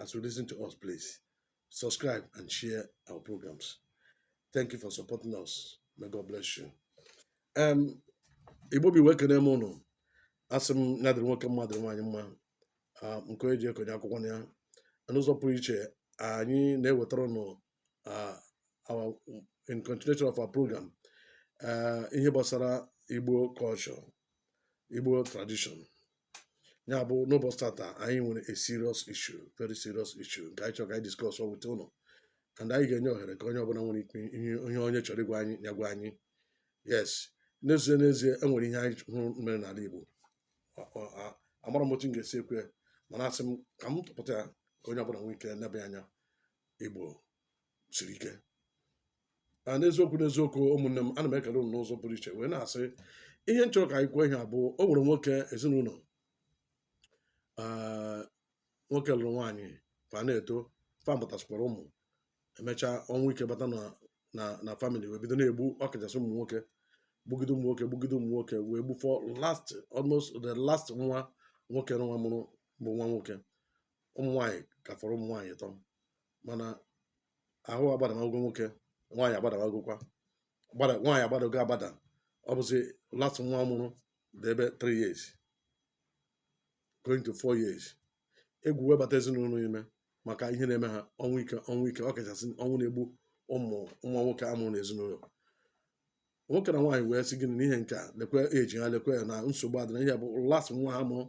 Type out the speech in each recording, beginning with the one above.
as you listen to us, please subscribe and share our programs. Thank you for supporting us. May God bless you. Ụmụ Igbo ibe m ekene m ụnụ asị m ya dịrị nwoke mma dịrị nwaanyị mma ah, nke onye ji eko onye akwakwana ya n'ụzọ pụrụ iche anyị na-ewetara ụnụ uh, our in continuation of our program uh, ihe gbasara Igbo culture Igbo tradition ya bụ n'ụbọchị tata anyị nwere a serious issue very serious issue nke anyị chọrọ ka anyị discuss with ụnụ and anyị ga-enye ohere ka onye ọbụla nwere ike ihe onye chọrọ ịgwa anyị ya gwa anyị yes n'ezie n'ezie enwere ihe anyị hụrụ mere n'ala Igbo amarọ m otu m ga-esi ekwu ya mana asị m ka m tụpụta ya ka onye ọbụla nwee ike nebe anya Igbo siri ike a n'eziokwu n'eziokwu ụmụnne m ana m ekele unu n'ụzọ pụrụ iche wee na-asị ihe m chọrọ ka anyị kwuo ihe a bụ o nwere nwoke ezinụlọ ee nwoke lụrụ nwaanyị fa na-eto fa mụtasịkwara ụmụ emechaa ọnwụ ike bata na na na family wee bido na-egbu ọkachasị ụmụ nwoke gbugide ụmụ nwoke gbugide ụmụ nwoke wee gbufọ last almost the last nwa nwoke nwa mụrụ bụ nwa nwoke ụmụ nwaanyị ka fọrọ ụmụ nwaanyị ịtọ mana ahụ agbadamago nwoke nwaanyị agbadamagokwa nwaanyị agbadago agbada ọ bụzi last nwa a mụrụ dị ebe 3 years going to 4 years egwu wee bata ezinụlọ ime maka ihe na-eme ha ọnwụ ike ọnwụ ike ọkachasị ọnwụ na-egbu ụmụ nwa nwoke amụrụ n'ezinụlọ nwoke na nwaanyị wee sị gịnị n'ihe nke a lekwe age ha lekwe ya na nsogbu adịna ihe bụ last nwa ha mụrụ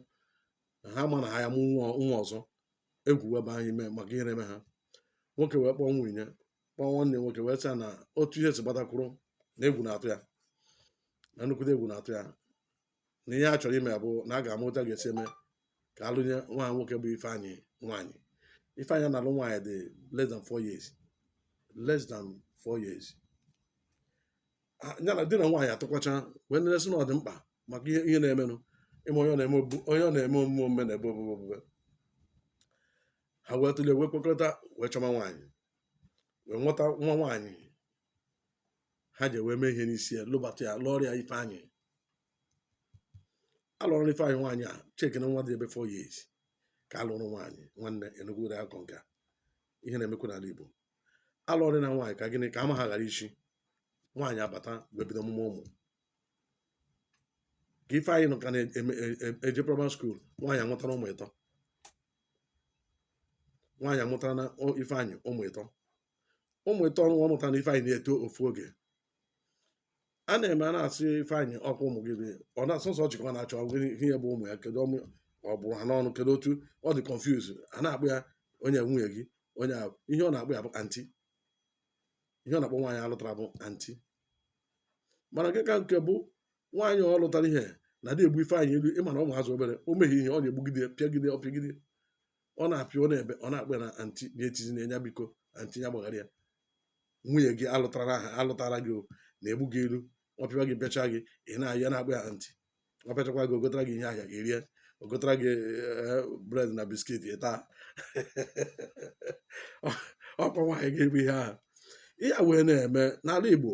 na ha ma na ha ya-amụ nwa nwa ọzọ egwu wee baa ha ime maka ihe na-eme ha nwoke wee kpọọ nwunye ya kpọọ nwanne nwoke wee sị ya na otu ihe si gbata kwụrụ na egwu na-atụ ya na nnukwute egwu na-atụ ya na ihe a chọrọ ime bụ na a ga-ama otu a ga-esi eme ka alụnye nwa ha nwoke bụ Ifeanyị nwaanyị Ifeanyị a na-alụ nwaanyị dị less than four years less than four years ha- ya na di na nwaanyị atụkwacha wee nele sị na ọ dị mkpa maka ihe ihe na-emenụ ịma onye ọ na-eme obu- onye ọ na-eme omume omume na-ebe obube obube ha wee tụlee wee kwekọrịta wee chọma nwaanyị wee nweta nwa nwaanyị ha jee wee mee ihe n'isi ya lụbata ya lụọrọ ya Ifeanyị alụrụ Ifeanyị nwaanyị chekenụ nwa dị ebe 4 years ka alụrụ nwaanyị nwanne ị nụgoro akọ nke a. ihe na-emekwa n'ala Igbo alụọrọ nwa nwaanyị ka gịnị ka ama ha ghara ichi nwaanyị abata wee bido ọmụmụ ụmụ ka Ifeanyị nọ ka na-eje primary school nwaanyị amụtara ụmụ ịtọ nwaanyị amụtara na Ifeanyị ụmụ ịtọ ụmụ ịtọ ahụ ọ mụtara na Ifeanyị na-eto ofu oge a na-eme a na-asị ifeanyị ọkwa ụmụ gị dị- ọ na sọsọ ọ chịkwa na-achọ gịnị ihe ya bụ ụmụ ya kedu ọmụ ọ bụrụ ha n'ọnụ kedu otu ọ dị confuse a na-akpọ ya onye nwunye gị onye a- ihe ọ na-akpọ ya bụ anti ihe ọ na-akpọ nwaanyị alụtara bụ anti mana nke ka nke bụ nwaanyị ọ lụtara ihe na-adị egbu ifeanyị ilu ịma na ụmụazị obere o mehie ihe ọ na-egbugide pịagide ọ pịagide ọ na-apịa ọ na-ebe ọ na-akpọ ya na anti ya etizina nya biko anti ya gbaghara ya nwunye gị alụtara aha alụtara gị ọ na-egbu gị ilu ọ pịawa gị pịacha gị ị na-ayọ ya na-akpọ ya anti ọ pịachakwa gị o gotara gị ihe ahịa gị rie o gotara gị eh, bred na biskit ị taa ọkwa nwaanyị gị bụ ihe ahụ ihe a wee na-eme n'ala Igbo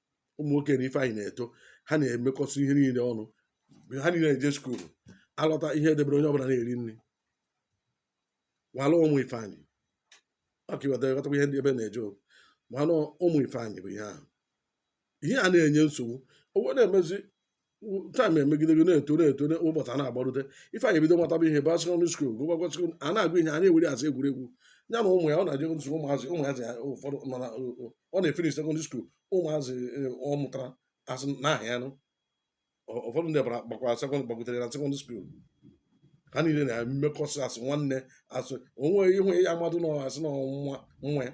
ụmụ nwoke na ifeanyị na-eto ha na-emekọsị ihe niile ọnụ ha niile na-eje skuulu alọta ihe edebere onye ọbụla na-eri nri nwala ụmụ ifeanyị maka iweta ịghọtakwa ihe ndị ebe na-eje o. mana ụmụ ifeanyị bụ ihe ahụ ihe a na-enye nsogbu o wee na-emezi taịm emegidego na-eto na-eto na ụbọchị a na-agbarute ifeanyị ebido mataba ihe baa sekọndịrị skuul gụbakwa sekọndịrị a na-agụ ihe a na-ewere asị egwuregwu ya na ụmụ ya ọ na-eje nsogbu ụmụazị ụmụazị ya ụfọdụ nọ na ọ na-efinish sekọndịrị skuul ụmụazị eh, ọ mụtara asị na aha ya nụ Ọ- ụfọdụ ndị bara gbakwara sekọndịrị gbagotere na sekọndịrị skuul ha niile na-emekọsị asị nwanne asị onwe ihe ya amadụ na asị na nwa nwa ya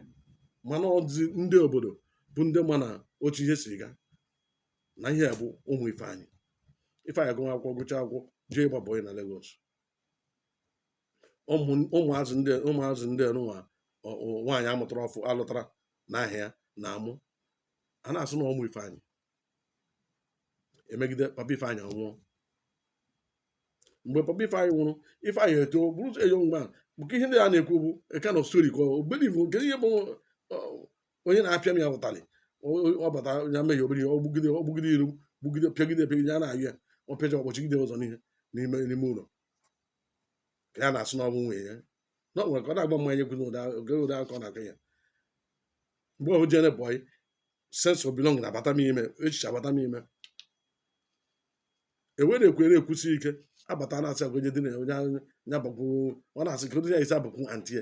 mana ọ dị ndị obodo bụ ndị ma na otu ihe si gaa na ihe a bụ ụmụ Ifeanyị Ifeanyị agụọ akwụkwọ gụcha akwụkwọ jee ịgba bọyị na Lagos ụmụazị ndị ụmụazị ndị nwa nwaanyị amụtara ọfụ alụtara n'aha ya na-amụ a na-asị na ụmụ Ifeanyị emegide papa Ifeanyị anwụọ mgbe papa Ifeanyị nwụrụ Ifeanyị etoo bụrụ a young man maka ihe ndị a na-ekwu bụ a kind of story ka ọ believe nke ihe bụ onye na-apịa m ya ụtalị ọ bata ya mehie obere ihe o gbugide o gbugide ilu gbugide pịagide pịagide ya na-ayọ ya ọ pịacha ọ kpọchigide ụzọ n'ihe n'ime n'ime ụlọ ka ya na-asị na ọ bụ nwunye ya na ọ nwere ka ọ na-agba mmanya ekwu n'ụda oge ụda akọ na akọ ya mgbe ọhụ jere bọyị sense of belonging abata m ime echiche abata m ime ewere ekwere ekwusi ike abata na-asị agwa onye dị na ya onye anya bakwuru ọ na-asị ka onye ya isi abụkwu antie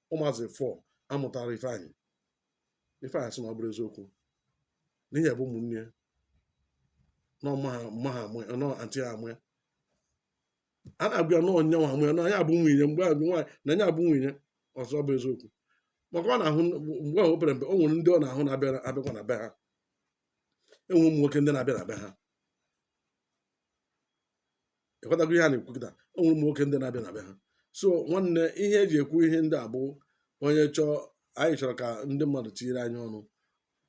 ụmụazị four amụtara ifeanyị ifeanyị asị na ọ bụrụ eziokwu na ihe a bụ ụmụnne ya na ọma ha mma ha amụ ya na anti ha amụ ya a na-agwa ya na ọ nya nwa mụ ya na ya bụ nwunye mgbe a nwaanyị na ya bụ nwunye ọ sị ọ bụ eziokwu maka ọ na-ahụ mgbe ahụ o pere mpe o nwere ndị ọ na-ahụ na-abịa abịakwa na be ha e nwe ụmụ nwoke ndị na-abịa na be ha ịghọtago ihe a na-ekwu kịta o nwere ụmụ nwoke ndị na-abịa na be ha so nwanne ihe eji ekwu ihe ndị a bụ onye chọọ anyị chọrọ ka ndị mmadụ tinyere anyị ọnụ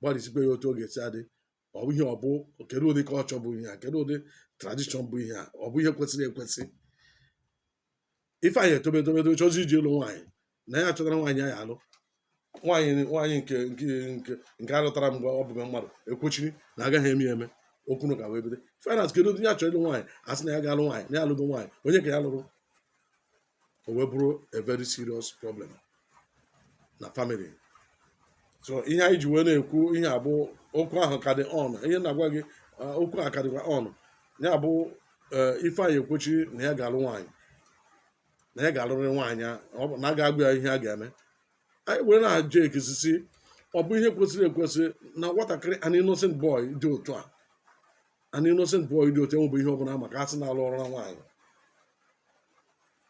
gbalịsikwa ya otu ọ ga-esi adị ọ bụ ihe ọ bụ kedu ụdị kọlchọ bụ ihe a kedu ụdị tradishọn bụ ihe a ọ bụ ihe kwesịrị ekwesị ifeanyị etobe etobe etobe chọzie ije ịlụ nwaanyị na ya chọtara nwaanyị ya alụ nwaanyị nwaanyị nke nke nke nke alụtara mgbe ọ bụghị mmadụ ekwechiri na agaghị eme eme okwu na ụka wee bido ifeanyị kedu onye ya chọrọ ịlụ nwaanyị a sị na ya ga-alụ nwaanyị na ya alụgo nwaanyị onye ka ya lụrụ o wee bụrụ a very serious problem na famili so ihe anyị ji wee na-ekwu ihe a bụ okwu ahụ ka dị on ihe na-agwa gị okwu a ka dịkwa on ya bụ eh, ifeanyị ekwechi na ya ga-alụ nwaanyị na ya ga-alụrị nwaanyị na a ga-agwa ya ihe a ga-eme anyị wee na-ajụ ekisisi ọ bụ ihe kwesịrị ekwesị na nwatakịrị an innocent boy dị otu a an innocent boy dị otu enwebụ ihe ọ bụla ma ka a sị na a lụọrọ ya nwaanyị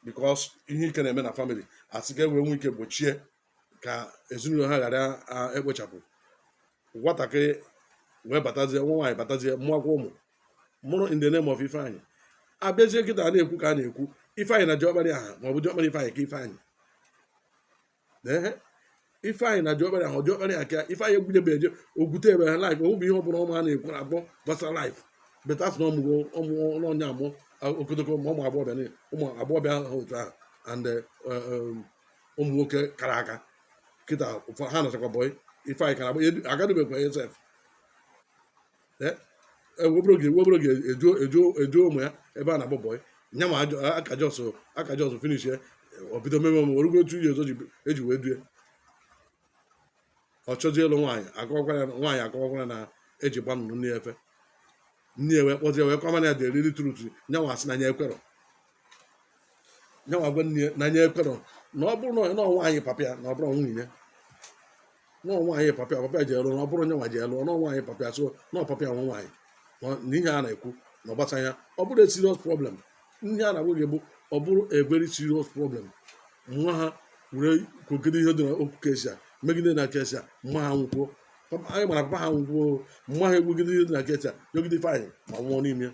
bikos ihe ike na-eme na famili a sị ka e wee nwee ike gbochie ka ezinụlọ ha ghara ekpochapụ nwatakịrị wee batazie nwa nwaanyị batazie mụakwa ụmụ mụrụ in the name of ifeanyị a bịazie kịta na-ekwu ka a na-ekwu ifeanyị na diọkpara aha ma ọ bụ diọkpara ifeanyị ka ifeanyị ee ifeanyị na diọkpara ahụ diọkpara ya ka ifeanyị egwudebe eje ogwute ebe ha laif ọ bụ ihe ọ bụla ụmụ a na-ekwu na akpọ gbasara laif but a sị na ọ mụgo ụmụ ọ na-amụ okotoko ma ụmụ agbọghọbịa niile ụmụ agbọghọbịa ha otu ahụ and eh, eh, ụmụ nwoke kara aka kịta ụfọdụ ha nachakwa bọị ifeanyị kara agba agadubekwa esef nwebere oge nwebere oge e duo e duo e duo ụmụ ya ebe a na-agba bọị nya ma aka jọs aka jọs finish ya o bido meme ọmụ orugo otu ihe ọzọ eji wee due ọ chọzie ịlụ nwaanyị akọwakwara nwaanyị akọwakwara na eji gba nnụnụ nne efe nne ya wee kpọzie wee kọwara ya the real truth nya nwa asị na nya ekwerọ ya nwa gwa nne ya na nya ekwerọ na ọ bụrọ nwunye na ọ nwaanyị papa ya na ọ bụrọ nwunye ya na ọ nwaanyị papa ya papa ya je lụ na ọ bụrọ nya nwa je lụ na ọ nwaanyị papa ya so na ọ papa ya nwe nwaanyị na ọ- na ihe a na-ekwu na ọ gbasa ya ọ bụrụ a serious problem ihe a na-agwa gị bụ ọ bụrụ a very serious problem nna ha wee kwugide ihe dị na okwu case a megide na case a mma ha nwụkwuo Papa- anyị mara papa ha nwụkwuo mma ha ekwugide ihe dị na case a megide ifeanyị ma nwụọ n'ime ya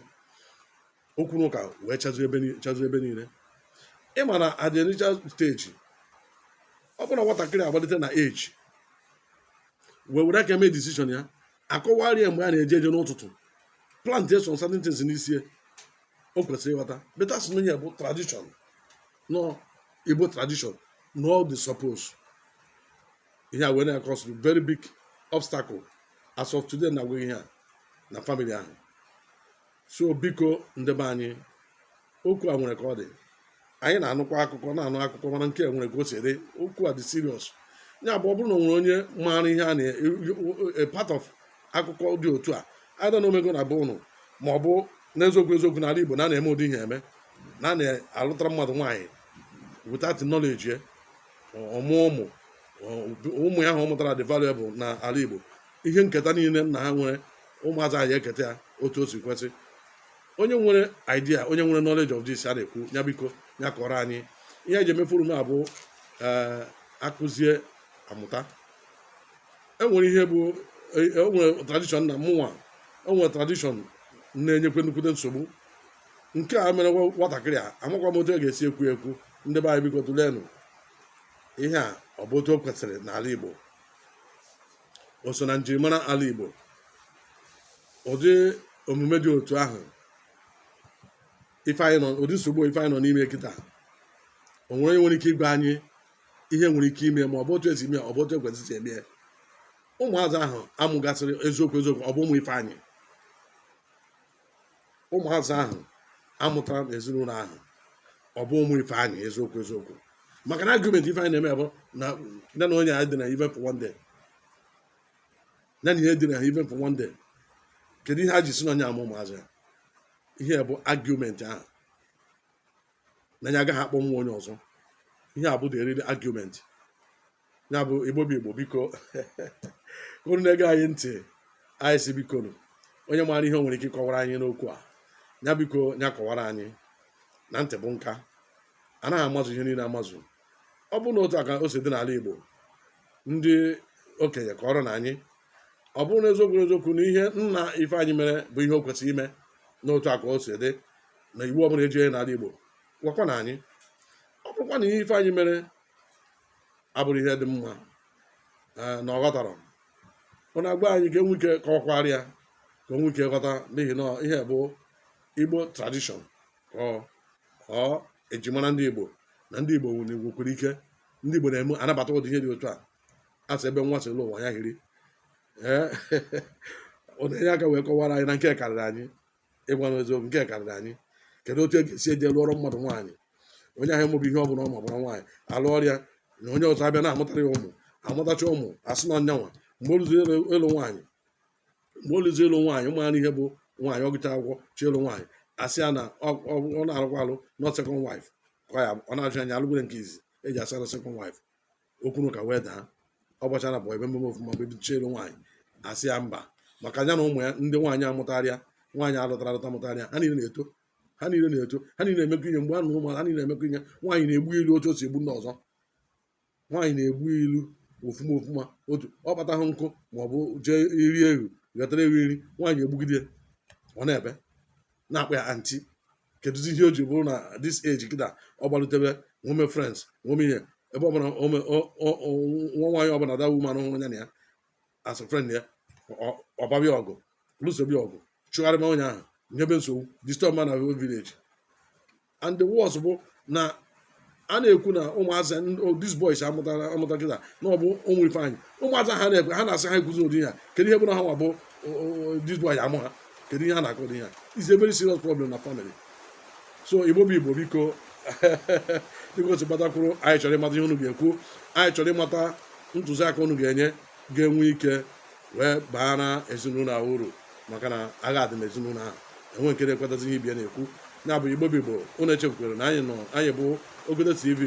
okwu na ụka wee chazu ebe ni- chazu ebe niile ị ma na at the initial stage ọ bụrụ na nwatakịrị agbalite na age wee were aka mee decision ya a kọwarị ya mgbe a na-eje eje n'ụtụtụ plant some certain things n'isi ya, o kwesịrị ịghọta but a sị na ya bụ tradition na ọ igbo tradition na all the suppose ihe a wee na-akọs very big obstacle as of today na agwa ihe a na family ahụ so biko ndị be anyị okwu a nwere ka ọ dị anyị na-anụkwa akụkọ na-anụ akụkọ mana nke a nwere ka o si dị okwu a dị serious ya bụ ọ bụrụ na o nwere onye maara ihe a na a part of akụkọ dị otu a ada na o mego na be unu ma ọ bụ n'eziokwu eziokwu n'ala Igbo na a na-eme ụdị ihe eme na a na-alụtara mmadụ nwaanyị without knowledge ya ọ mụọ ụmụ ụmụ ya ahụ ọ mụtara dị valuable na ala Igbo ihe nketa niile nna ha nwere ụmụazị anyị eketa ya otu o si kwesị onye nwere idea onye nwere knowledge of this a na-ekwu ya biko ya kọrọ anyị ihe eji eme forum a bụ eh, akụzie amụta o nwere ihe bụ o nwere e tradition na mụnwa o nwere tradition na-enyekwa nnukwute nsogbu nke a mere nwatakịrị a amakwa m otu e ga-esi ekwu ekwu ndị be anyị biko tụlenụ ihe a ọ bụ otu o kwesịrị n'ala Igbo o so na njirimara ala Igbo ụdị omume dị otu ahụ ifeanyị nọ ụdị nsogbu ifeanyị nọ n'ime kịta o nwere onye nwere ike ịgwa anyị ihe nwere ike ime ma ọ bụ otu e si eme ọ bụ otu e kwesị isi eme ụmụazị ahụ a mụgasịrị eziokwu eziokwu ọ bụ ụmụ ifeanyị ụmụazị ahụ a mụtara na ezinụlọ ahụ ọ bụ ụmụ ifeanyị eziokwu eziokwu maka na argument ifeanyị na-eme bụ na na nya edinaghị even for one day na ha edinaghị even for one day kedu ihe ha ji sị na ọ nya mụ ụmụazị ya ihe bụ argument ahụ na ya agaghị akpọ nwa onye ọzọ ihe a bụ the real argument ya bụ igbo bụ igbo biko unu na-ege anyị ntị anyị sị bikonụ onye maara ihe o nwere ike ịkọwara anyị n'okwu a ya biko ya kọwara anyị na ntị bụ nka anaghị amazụ ihe niile amazụ ọ bụrụ na otu a ka o si dị n'ala igbo ndị okenye kọrọnụ anyị ọ bụrụ na eziokwu na eziokwu na ihe nna ifeanyị mere bụ ihe o kwesịrị ime na otu a ka o si dị na iwu ọbụla eji onye n'ala igbo gwakwanụ anyị ọ bụrụkwa na ihe ifeanyị mere abụrọ ihe dị mma ee, na ọ ghọtarọ unu agwa anyị ka e nwee ike ka a kọwara ya ka o nwee ike ghọta n'ihi na ihe bụ igbo tradition ọ ọ ejimara ndị igbo na ndị igbo nwere nwekwara ike ndị igbo na-eme anabata ụdị ihe dị otu a a sị ebe nwa si lọ ụwa ya hiri ee unu enye aka wee kọwara anyị na nke karịrị anyị ịgwa unu eziokwu nke karịrị anyị kedu otu e ga-esi eje lụọrọ mmadụ nwaanyị onye ahụ amabu ihe ọ bụla ọ maburọ nwaanyị a lụọrọ ya na onye ọzọ abịa na-amụtara ya ụmụ amụtacha ụmụ asị na ọ nyanwa mgbe o luzi ịlụ nwaanyị mgbe o luzi ịlụ nwaanyị maara ihe bụ nwaanyị ọ gụcha akwụkwọ chọọ ịlụ nwaanyị asị ya na ọ na-alụkwa alụ na ọ second wife ọ na-ajụ anya alụgwere nke izizi e ji asị na second wife o kwuru ka wee daa ọ gbachara bụ ebe mmemme ofuma bụ ebicha ịlụ nwaanyị a sị ya mba maka ya na ụmụ ya ndị nwaanyị a mụtara ya nwaanyị a lụtara alụta mụtara ya ha niile na-eto ha niile na-eto ha niile na-emekọ ihe mgbe a na ụmụ ha niile na-emekọ ihe nwaanyị na-egbu ilu otu o si egbu ndị ọzọ nwaanyị na-egbu ilu ofuma ofuma otu ọ kpataghị nkụ ma ọ bụ jee iri ewu ghọtara ewu iri nwaanyị egbugide ya, ọ na-ebe na-akpọ ya anti kedụzi ihe o ji bụrụ na this age kịta ọ gbalutebe nwome friends nwome ihe ebe ọbụla ome- o- o- o- nwa nwaanyị ọbụla the woman hụrụ ya na ya as a friend ya ọ- ọbabịa ọgụ lụsobe ya ọgụ chụgharịma onye ahụ nyebe nsogbu disturbma na village and the worst bụ na a na-ekwu na ụmụazị these boys a mụtara amụta kịta na ọ bụ ụmụ ifeanyị ụmụazị ha na-ekwe ha na-asị ha ekwuzi ụdị ya kedu ihe bụ na ha nwa bụ these boys amụ ha kedu ihe ha na-akọ dị ya it's a very serious problem na family so igbo bụ igbo biko biko si gbatakwuru anyị chọrọ ịmata ihe unu ga-ekwu anyị chọrọ ịmata ntụziaka unu ga-enye ga-enwe ike wee baara ezinụlọ uru maka na agha dị n'ezinụlọ ahụ enwe nke na-ekwetazi ihe ibe ya na-ekwu ya bụ igbo bụ igbo unu echefukwere na anyị nọ anyị bụ ogodo tv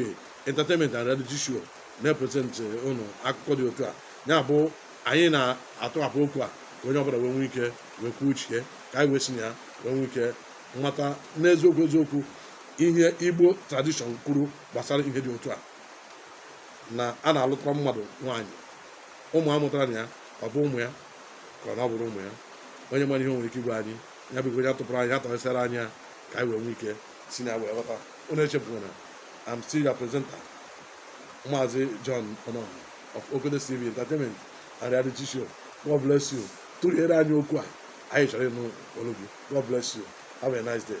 entertainment and reality show na-epresentị unu akụkọ dị otu a ya bụ anyị na-atụghapụ okwu a ka onye ọbụla wee nwee ike wee kwuo uche ka anyị wee si na ya wee nwee ike mata n'eziokwu eziokwu ihe igbo tradition kwuru gbasara ihe dị otu a na a na-alụtara mmadụ nwaanyị ụmụ a mụtara na ya ọ bụ ụmụ ya ka na ọ bụrụ ụmụ ya onye mara ihe o nwere ike ịgwa anyị ya bụ onye tụpụrụ anyị ya tọghịsịara anyị ya ka anyị wee nwee ike si na ya wee ghọta unu echefuna I'm still your presenter Maazị John Onoh of Ogodo TV Entertainment and Reality Show God bless you tụghere anyị okwu a anyị chọrọ ịnụ olu gị God bless you have a nice day